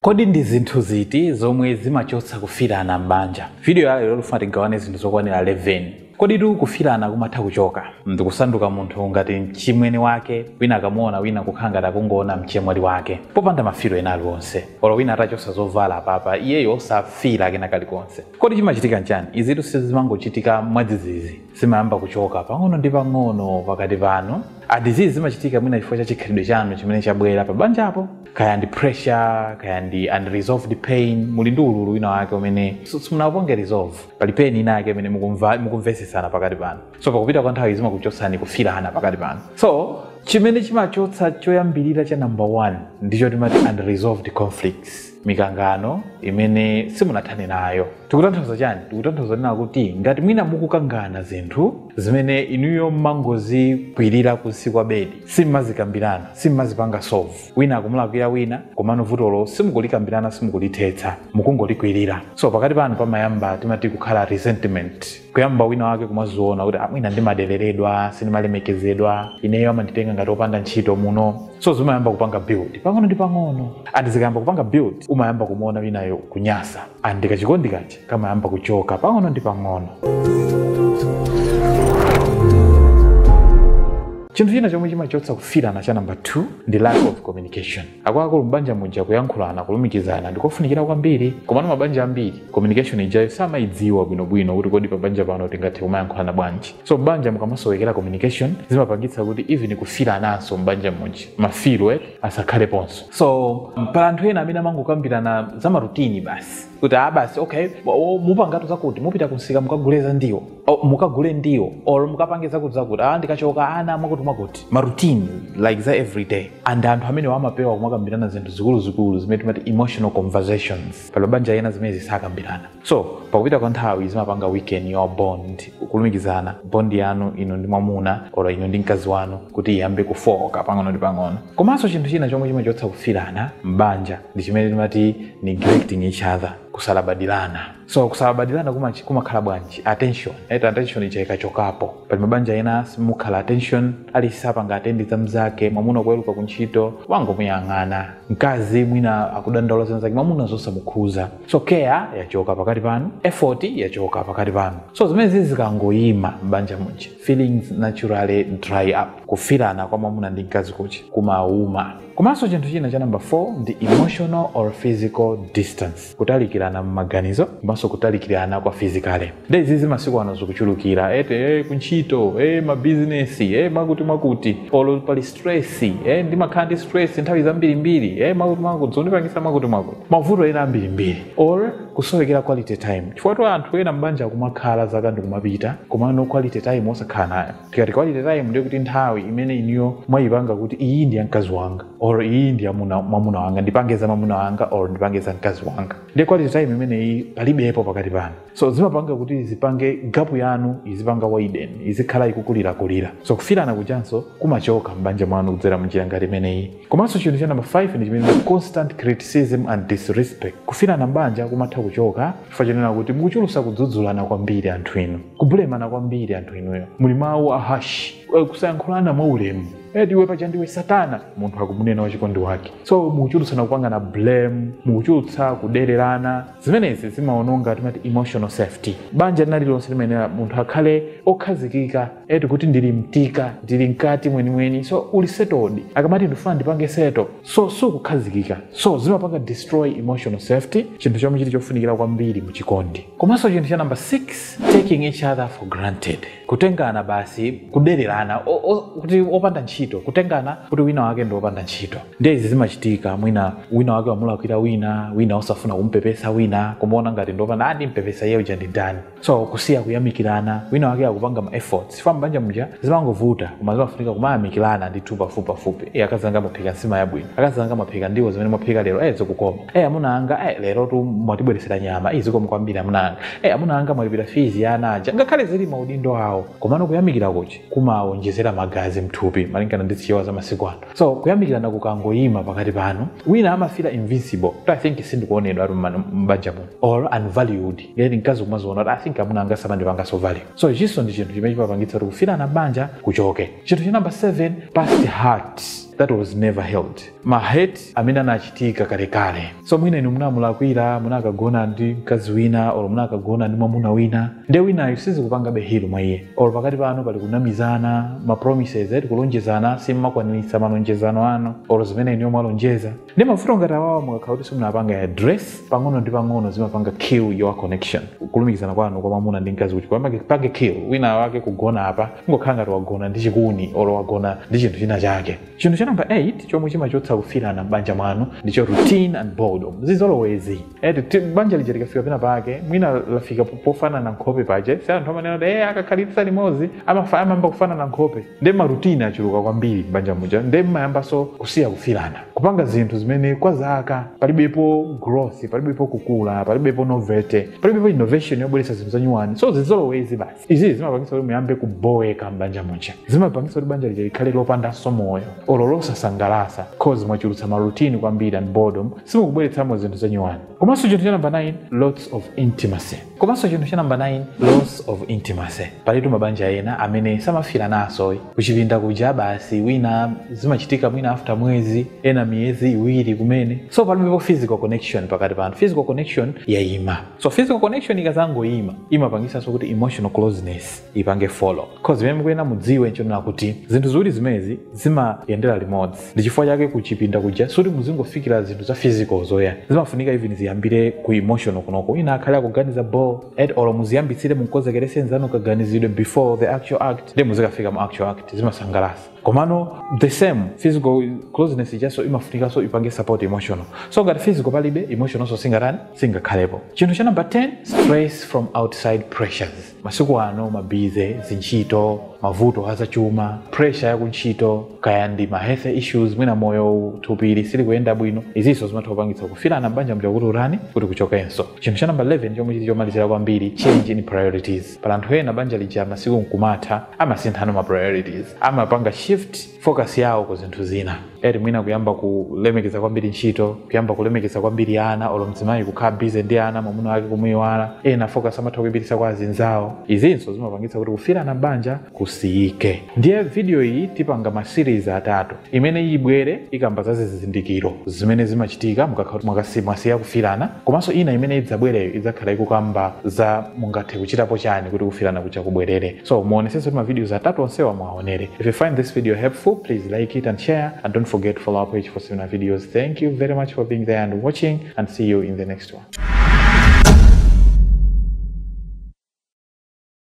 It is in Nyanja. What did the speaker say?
Kodi ndi zinthu ziti zomwe zimachotsa kufilana m'banja? Video ya lero tifuna tigawane zinthu zokwanila 11. Koditu kufilana kumatha kuchoka ndikusanduka munthu ngati mchimwene wake wina akamuona wina kukhala ngati akungoona mchemwali wake popanda mafilo ena aliwonse. Olo wina atachosa zovala apapa iyeyo osafila kena kalikonse. Kodi chimachitika nchani? Izitu sizimangochitika mwadzizizi. Zimayamba kuchoka pang'ono ndi pang'ono pakati panu. And izizi zimachitika mwina chifukwa cha chikhalidwe chanu chimene chabwela pabanjapo. kaya ndi pressure kaya ndi unresolved pain muli ndi ululu wina wake umene so- simunauponge resolve pali pain ina yake imene mukumva- mukumvesesana pakati panu so pakupita kwa nthawi zimakuchotsani kufirana pakati panu so chimene chimachotsa choyambirira cha number one ndicho timati unresolved conflicts mikangano imene simunathane nayo tikutanthauza chani tikutanthauza kunena kuti ngati mwina mukukangana zinthu zimene inuyo mmangozikwirira kunsi kwa bedi simmazikambirana simmazipanga solve wina akumulakwira wina komano vutolo simukulikambirana simukulithetsa mukungolikwirira so pakati panu pamayamba timati kukhala resentment kuyamba wina wake kumaziona kuti a mwina ndimadeleredwa sindimalemekezedwa ineyo amanditenga ngati opanda ntchito muno so zimayamba kupanga build pang'ono ndi pang'ono ande zikayamba kupanga build umayamba kumuona winayo kunyasa ande kachikondi kaja kamayamba kuchoka pang'ono ndi pang'ono chinthu china chomwe chimachotsa kufirana cha namba 2 ndi lack of communication akuluakulu m'banja muja kuyankhulana kulumikizana ndikofunikira kwambiri komano mabanja ambiri communication ijayo samayidziwa bwinobwino kuti kodi pabanja pano tingathe kumayankhulana bwanji so m'banja mukamasowekera communication zimapangitsa kuti even kufirananso m'banja muja mafiro eti asakhaleponso so pali anthu ena amene amangokambirana za marutini basi kuti a basi okay o, mupangatu zakuti mupita kumsika mukagule za ndiwo o, mukagule ndiwo or mukapange zakuti zakuti a ndikachoka ana mwakuti mwakuti marutini like za everyday and anthu amenewa amapewa kumakambirana zinthu zikuluzikulu zimene timati emotional conversations pali mabanja ena zimenezi sakambirana so pakupita kwa nthawi zimapanga weaken your bond kulumikizana bond yanu inu ndi mwamuna or inu ndi mkazi wanu kuti iyambe kufooka pang'ono ndi pang'ono komanso chinthu china chomwe chimachotsa kufirana m'banja ndi chimene timati neglecting each other kusalabadilana so kusalabadilana kumachi- kumakhala bwanji attention right? attention ija ikachokapo pali mabanja ena simukhala attention aliyense sapanga attend za mzake mwamuna kuweruka kuntchito wangomuyang'ana mkazi mwina akudandaula zina zake mwamuna zosamukhuza so care yachoka pakati panu effort yachoka pakati panu so zimenezi zikangoyima m'banja muja feelings naturally dry up kufirana kwa mwamuna ndi mkazi kuja kumauma komanso chinthu china cha namba 4 ndi emotional or physical distance kutalikirana m'maganizo komanso kutalikirana kwa physically nde izi zi masiku ano zikuchulukira ete eh, kuntchito eh, mabizinesi eh, mwakuti mwakuti olo pali stress eh, ndimakhala ndi stress nthawi zambirimbiri eh, mwakuti mwakuti zondipangisa mwakuti mwakuti mavuto ena ambirimbiri or kusowekera quality time chifukwatu anthu ena mbanja kumakhala zaka ndikumapita komano quality time osakhala nayo tikati quality time ndiye kuti nthawi imene inuyo mwayipanga kuti iyi ndi ya mkazi wanga or iyi ndi ya muna- mwamuna wanga ndipange za mwamuna wanga or ndipange za mkazi wanga ndiye quality time imeneyi palibepo pakati panu so zimapanga kuti zipange gapu yanu izipanga widen izikhala ikukulirakulira so kufirana kujanso kumachoka m'banja mwanu kudzera munjira ngati imeneyi komanso chinthu cha namba 5 ndi chimene constant criticism and disrespect kufirana m'banja kumatha kuchoka chifukwa chonena kuti mukuchulutsa kudzudzulana kwambiri anthu inu kubulemana kwambiri anthu inuyo muli mawu a harsh eh, kusayankhulana mwaulemu eti iwe paja ndiwe satana munthu akumunena wachikondi wake so mukuchulutsana kupangana blame mukuchulutsa kudererana zimenezi zimawononga timati emotional safety banja lina lililonse limayenera munthu akhale okhazikika eti kuti ndili mtika ndili mkati mwenimweni so uli settled akamati ndifuna ndipange settle so sukukhazikika so zimapanga destroy emotional safety chinthu chomwe chili chofunikira kwambiri mu chikondi komanso chinthu cha namba 6 taking each other for granted kutengana basi kudererana kuti opanda ntchito kutengana kuti wina wake ndi opanda ntchito ndiye izi zimachitika mwina wina wake wamulakwira wina wina osafuna kumpepesa wina kumuona ngati ndi opanda a ndimpepesa iye uja ndi ndani so kusiya kuyamikirana wina wake akupanga ma efforts chifukwa mbanja muja zimangovuta koma zimafunika kumayamikirana ndithu pafupi pafupi e akazanga mwaphika nsima yabwino akazanga mwaphika ndiwo zimene mwaphika lero e zikukoma e amuna anga e lerotu mwatibweretsera nyama e zikomo kwambiri amuna anga e amuna anga mwalipira fees ya ana aja ngakhale zili maudindo awo komano kuyamikira kuja kumawonjezera magazi mthupi malingana ndi zichewa za masiku ano so kuyamikirana kukangoyima pakati panu wina amafira invisible kuti i think sindikuonedwa ati mmano- m'banja muno or unvalued eti mkazi kumaziona kuti i think amuna anga samandipangaso value so ichinso ndi chinthu chimene chimapangitsa kuti kufirana mbanja kuchoke chinthu cha number 7 past hurt that was never healed ma hurt amene anachitika kalekale so mwina inu munamulakwira munakagona ndi mkazi wina or munakagona ndi mwamuna wina nde winayo sizikupangabe heal mwa iye or pakati panu pali kunamizana ma promises eti kulonjezana simmakwaniritsa malonjezano anu or zimene inuyo mwalonjeza ndi mavuto ngati awawa mukakhala kuti simunapanga address pang'ono ndi pang'ono zimapanga kill your connection kulumikizana kwanu kwa mwamuna ndi mkazi kuti kwamake pange kill wina wake kugona apa kungokhala ngati wagona ndi chikuni or wagona ndi chinthu china chake chinthu cha namba 8 chomwe chimachotsa kufiirana m'banja mwanu ndicho routine and boredom zizolowezi eti ti- banja lija likafika pena pake mwina lafika po- pofanana nkhope paje si anthu amanena kuti eh akakhalitsa limodzi amafa amayamba kufanana nkhope nde marutine achuluka kwambiri m'banja muja nde mmayambanso kusiya kufiirana kupanga zinthu zimene kwa zaka palibepo growth palibepo kukula palibepo novelty palibepo innovation yobweretsa zinthu zanyuwani so zizolowezi basi izi zimapangitsa kuti muyambe kuboweka m'banja muja zimapangitsa kuti banja lija likhale lopandanso moyo olo losasangalasa cause mwachulutsa marutini kwambiri and boredom simukubweretsamo zinthu zanyuwani komanso chinthu cha namba 9 lots of intimacy komanso chinthu cha namba 9 loss of intimacy palitu mabanja ena amene samafiranaso kuchipinda kuja basi wina zimachitika mwina after mwezi ena miyezi iwiri kumene so palibepo physical connection pakati panu physical connection yayima so physical connection ikazangoyima imapangisanso kuti emotional closeness ipange follow cause zimene mukuyenera mudziwe nchonena kuti zinthu ziwiri zimezi zimayendera limodzi ndi chifukwa chake kuchipinda kuja suti muzingofikira zinthu za physical zokha zimafunika even ziyambire ku emotional kunoko wina akhale akuganiza about it or muziyambitsire mumkonzekerese nzanu kaganizidwe before the actual act nde muzikafika mu actual act zimasangalasa komano the same physical closeness ijaso imafunikanso ipange support emotional so ngati physical palibe emotionalso singatani singakhalepo chinthu cha number 10 stress from outside pressures masiku ano mabusy zintchito mavuto azachuma pressure yakuntchito kaya ndi ma health issues mwina moyo wathupi silikuyenda bwino izinso zimatha kupangitsa kufirana m'banja mja kuti kutani kuti kuchokenso chinthu cha number 11 chomwe chili chomalizira kwambiri change in priorities pali anthu ena banja lija masiku mkumatha amasinthano ma priorities amapanga shift focus yawo ku zinthu zina eti mwina kuyamba kulemekeza kwambiri ntchito kuyamba kulemekeza kwambiri ana olo mzimayi kukhala busy ndi ana mwamuna wake kumuyiwala ena focus amatha kuipitisa kwa azinzawo izinso zimapangitsa kuti kufirana m'banja kusiyike ndiye video iyi tipanga ma series atatu imene ibwere ikamba za zizindikiro zimene zimachitika mukakhala mwakasi- mwasiya kufirana komanso ina imene idzabwereyo idzakhala ikukamba za mungathe kuchitapo chani kuti kufirana kuja kubwerere so muonesese kuti mavideos atatu onsewa muwaonere if you find this video helpful please like it and share and don't forget to follow our page for similar videos thank you very much for being there and watching and see you in the next one